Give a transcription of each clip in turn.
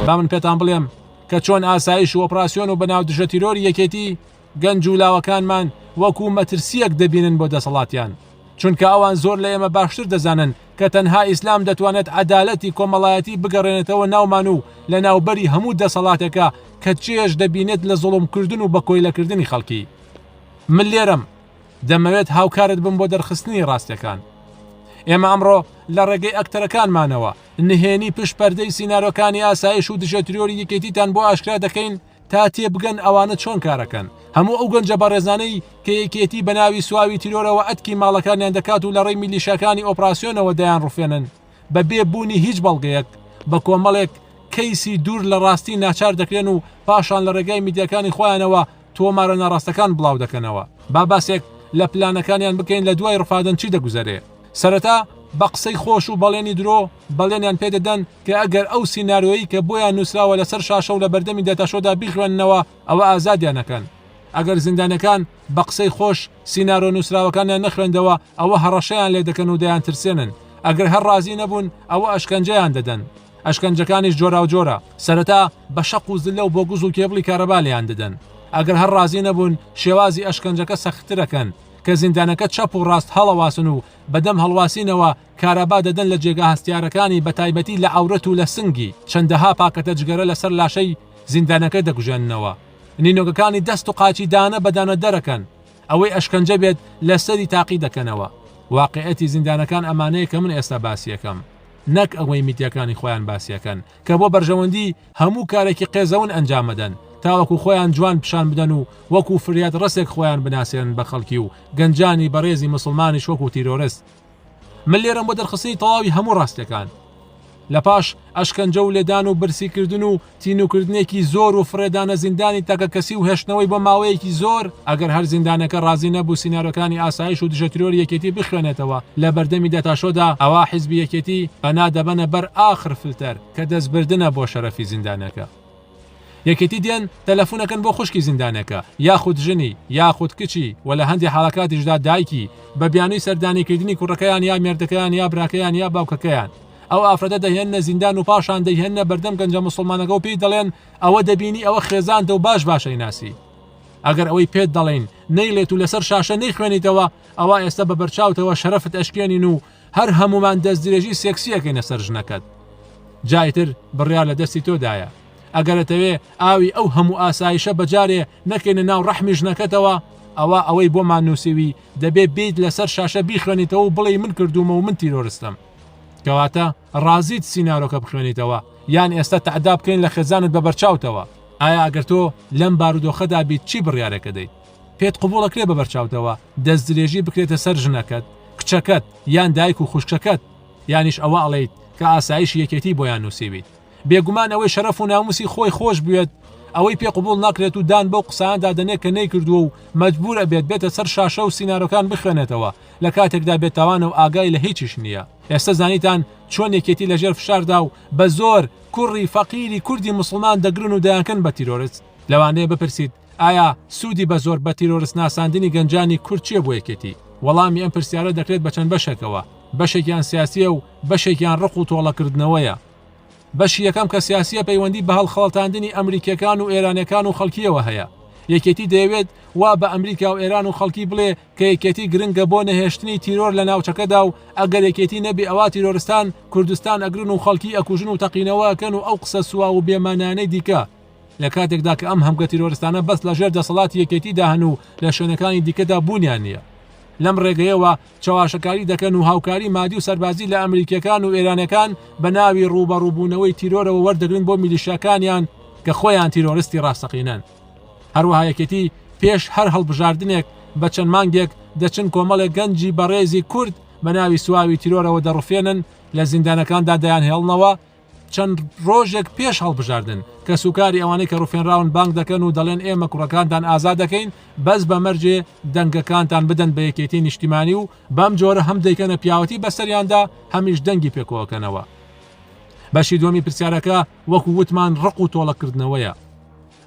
با من پێتان بڵێم کە چۆن ئاسایش و ئۆپراسسیۆن و بەناو دژە تیرۆری یەکێتی گەنج و لاوەکانمان وەکو مەترسیەک دەبینن بۆ دەسەڵاتیان چونکە ئەوان زۆر لە ئێمە باشتر دەزانن کە تەنها ئیسلام دەتوانێت عەدالەتی کۆمەڵایەتی بگەڕێنێتەوە ناومان و لە ناوبەری هەموو دەسەڵاتێکە کە چێش دەبینێت لە زۆڵمکردن و بە کۆیلەکردنی خەڵکی من لێرەم دەمەوێت هاوکارت بم بۆ دەرخستنی ڕاستیەکان. ئێمە ئەمڕۆ لە ڕێگەی ئەکتەرەکانمانەوە نهێنی پشت پەردەی سینارۆکانی ئاسایش و دژە ترۆری یەکێتیتان بۆ ئاشکرا دەکەین تا تێبگەن ئەوانە چۆن کارەکەن هەموو ئەو گەنجە بەڕێزانەی کە یەکێتی بە ناوی سواوی تیرۆرەوە ئەتکی ماڵەکانیان دەکات و لە ڕێی میلیشاکانی ئۆپراسسیۆنەوە دەیان ڕفێنن بە بێ بوونی هیچ بەڵگەیەک بە کۆمەڵێک کەیسی دوور لە ڕاستی ناچار دەکرێن و پاشان لە ڕێگای میدیەکانی خۆیانەوە تۆمارە ناڕاستەکان بڵاو دەکەنەوە. با باسێک لە پلانەکانیان بکەین لە دوای ڕفادن چی دەگوزەرێ. سەرەتا بە قسەی خۆش و بەڵێنی درۆ بەڵێنیان پێ دەدەن کە ئەگەر ئەو سینارۆیەی کە بۆیان نووسراوە لە سەر شاشە و لە بەردەمی داتاشۆدا بیخوێننەوە ئەوە ئازادیان ئەکەن. ئەگەر زیندانیەکان بە قسەی خۆش سینارۆ نووسراوەکانیان نەخوێندەوە ئەوە هەڕەشەیان لێ دەکەن و دەیانترسێنن. ئەگەر هەر ڕازی نەبوون ئەوە ئەشکەنجەیان دەدەن. ئەشکەنجەکانیش جۆراوجۆرە، سەرەتا بە شەق و زللە و بۆگز و کێبڵی کارەبا لێیان دەدەن، ئەگەر هەر ڕازی نەبوون شێوازی ئەشکەنجەکە سەختتر ئەکەن، کە زیندانەکە چەپ و ڕاست هەڵەواسن و بەدەم هەڵواسینەوە کارەبا دەدەن لە جێگا هەستیارەکانی بە تایبەتی لە عەورەت و لە سنگی، چەندەها پاکەتە جگەرە لە سەر لاشەی زیندانەکە دەکوژێننەوە، نینۆکەکانی دەست و قاچی دانە بە دانە دەرەکەن، ئەوەی ئەشکەنجە بێت لە سەری تاقی دەکەنەوە، واقیعەتی زیندانەکان ئەمانەیە کە من ئێستا باسی ئەکەم. نەک ئەوەی میدیاکانی خۆیان باسی ئەکەن کە بۆ بەرژەوەندی هەموو کارێکی قێزەون ئەنجام ئەدەن تاوەکو خۆیان جوان پیشان بدەن و وەکو فریاد ڕەسێک خۆیان بناسێنن بە خەڵکی و گەنجانی بەڕێزی موسڵمانیش وەکو تیرۆرست من لێرەم بۆ دەرخستنی تەواوی هەموو ڕاستیەکان لە پاش ئەشکەنجە و لێدان و برسی کردن و تینووکردنێکی زۆر و فڕێدانە زیندانی تاکەکەسی و هێشتنەوەی بۆ ماوەیەکی زۆر، ئەگەر هەر زیندانەکە ڕازی نەبوو سینارۆکانی ئاسایش و دژە ترۆری یەکێتی بخوێنێتەوە لە بەردەمی داتاشۆدا، ئەوا حیزبی یەکێتی پەنا دەبەنە بەر ئاخر فلتەر کە دەستبردنە بۆ شەرەفی زیندانەکە. یەکێتی دێن تەلەفونەکەن بۆ خوشکی زیندانەکە، یاخود ژنی، یاخود کچی و لە هەندێ حاڵەکاتیشدا دایکی، بە بیانووی سەردانیکردنی کوڕەکەیان یا مێردەکەیان یا براکەیان یا باوکەکەیان. ئەو ئافرەتە دەهێننە زیندان و پاشان دەیهێننە بەردەم گەنجە موسڵمانەکە و پێی دەڵێن ئەوە دەبینی ئەوە خێزانتە و باش باش ئەیناسی ئەگەر ئەوەی پێت دەڵێن نەیڵێت و لەسەر شاشە نەیخوێنیتەوە ئەوە ئێستا بە بەرچاوتەوە شەرەفت ئەشکێنین و هەر هەمومان دەست درێژی سێکسیەکەینە سەر ژنەکەت جایتر بڕیار لە دەستی تۆدایە ئەگەرەتەوێ ئاوی ئەو هەموو ئاسایشە بەجارێ نەکەینە ناو ڕەحمی ژنەکەتەوە ئەوە ئەوەی بۆمان نووسوی دەبێ بیت لەسەر شاشە بیخوێنیتەوە و بڵێ من کردوومە و من تیرۆرستم کەواتە ڕازیت سینارۆکە بخوێنیتەوە یان ئێستا تەعدا بکەین لە خێزانت بە بەرچاوتەوە ئایا ئەگەر تۆ لەم بارودۆخەدا بیت چی بڕیارەکە دەیت پێت قوبوڵەکرێ بە بەرچاوتەوە دەست درێژی بکرێتە سەر ژنەکەت کچەکەت یان دایک و خوشکەکەت یانیش ئەوە ئەڵیت کە ئاسایشی یەکێتی بۆیان نووسیویت بێگومان ئەوەی شەرەف و ناموسی خۆی خۆش بوێت ئەوەی پێ قبوڵ ناکرێت و دان بەو قسانەدا دەنێت کە نەیکردووە و مەجبوور ئەبێت بێتە سەر شاشە و سینارۆکان بخوێنێتەوە لە کاتێکدا بێتاوانە و ئاگای لە هیچیش نییە. ئێستە زانیتان چۆن یەکێتی لە ژێر فشاردا و بە زۆر کوڕی فەقیری کوردی موسڵمان دەگرن و دەیانکەن بە تیرۆرست؟ لەوانەیە بپرسیت ئایا سوودی بە زۆر بە تیرۆرست ناساندنی گەنجانی کورد چییە بۆ یەکێتی؟ وەڵامی ئەم پرسیارە دەکرێت بە چەند بەشێکەوە، بەشێکیان سیاسییە و بەشێکیان ڕق و تۆڵەکردنەوەیە. بەشی یەکەم کە سیاسیە پەیوەندی بە هەڵخەڵەتاندنی ئەمریکیەکان و ئێرانیەکان و خەڵکیەوە هەیە. یەکێتی دەیەوێت وا بە ئەمریکا و ئێران و خەڵکی بڵێ کە یەکێتی گرنگە بۆ نەهێشتنی تیرۆر لە ناوچەکەدا و ئەگەر یەکێتی نەبێ ئەوا تیرۆرستان کوردستان ئەگرن و خەڵکی ئەکوژن و تەقینەوە ئەکەن و ئەو قسە سواو و بێ مانایانەی دیکە لە کاتێکدا کە ئەم هەمگە تیرۆرستانە بەس لە ژێر دەسەڵاتی یەکێتیدا هەن و لە شوێنەکانی دیکەدا بوونیان نیە لەم ڕێگەیەوە چەواشەکاری دەکەن و هاوکاری مادی و سەربازی لە ئەمریکییەکان و ئێرانییەکان بە ناوی ڕووبەڕووبوونەوەی تیرۆرەوە وەردەگرن بۆ میلیشیاکانیان کە خۆیان تیرۆرستی ڕاستەقینەن. هەروەها یەکێتی پێش هەر هەڵبژاردنێک بە چەند مانگێک دەچن کۆمەڵێک گەنجی بەڕێزی کورد بە ناوی سواوی تیرۆرەوە دەڕفێنن، لە زیندانەکاندا دەیانهێڵنەوە چەند ڕۆژێک پێش هەڵبژاردن، کەسوکاری ئەوانەی کە ڕفێنراون بانگ دەکەن و دەڵێن ئێمە کوڕەکانتان ئازاد دەکەین بەس بە مەرجێ دەنگەکانتان بدەن بە یەکێتی نیشتیمانی و بەم جۆرە هەم دەیکەنە پیاوەتی بەسەریاندا هەمیش دەنگی پێکۆکەنەوە. بەشی دوەمی پرسیارەکە وەکو وتمان ڕق و تۆڵەکردنەوەیە.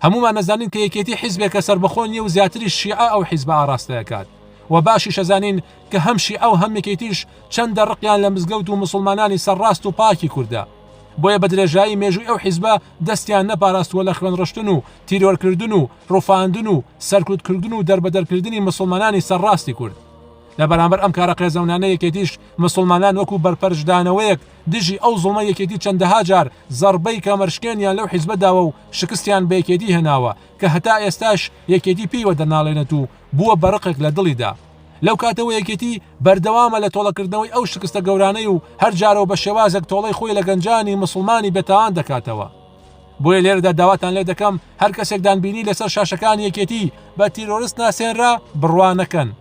هەموومان ئەزانین کە یەکێتی حیزبێکە سەربەخۆ نیە و زیاتریش شیعە ئەو حیزبە ئاڕاستە ئەکات و باشیش ئەزانین کە هەم شیعە و هەم یەکێتیش چەندە ڕقیان لە مزگەوت و موسڵمانانی سەرڕاست و پاکی کوردە بۆیە بە درێژایی مێژووی ئەو حیزبە دەستیان نەپاراستووە لە خوێن ڕشتن و تیرۆرکردن و ڕفاندن و سەرکوت کردن و دەربەدەر کردنی موسڵمانانی سەرڕاستی کورد لە بەرامبەر ئەم کارە قێزەونانە یەکێتیش مسوڵمانان وەکو بەرپەرچدانەوەیەک دژی ئەو زوڵمە یەکێتی چەندەها جار زەڕبەی کەمەرشکێنیان لەو حیزبە داوە و شکستیان بە یەکێتی هێناوە کە هەتا ئێستاش یەکێتی پێی وەدەناڵێنێت و بووە بە ڕقێک لە دڵیدا. لەو کاتەوە یەکێتی بەردەوامە لە تۆڵەکردنەوەی ئەو شکستە گەورانەی و هەر جارەو بە شێوازێک تۆڵەی خۆی لە گەنجانی موسڵمانی بێتاوان دەکاتەوە. بۆیە لێرەدا داواتان لێ دەکەم هەر کەسێکدان بینی لەسەر شاشەکانی یەکێتی بە تیرۆرست ناسێنرا، بڕوا نەکەن.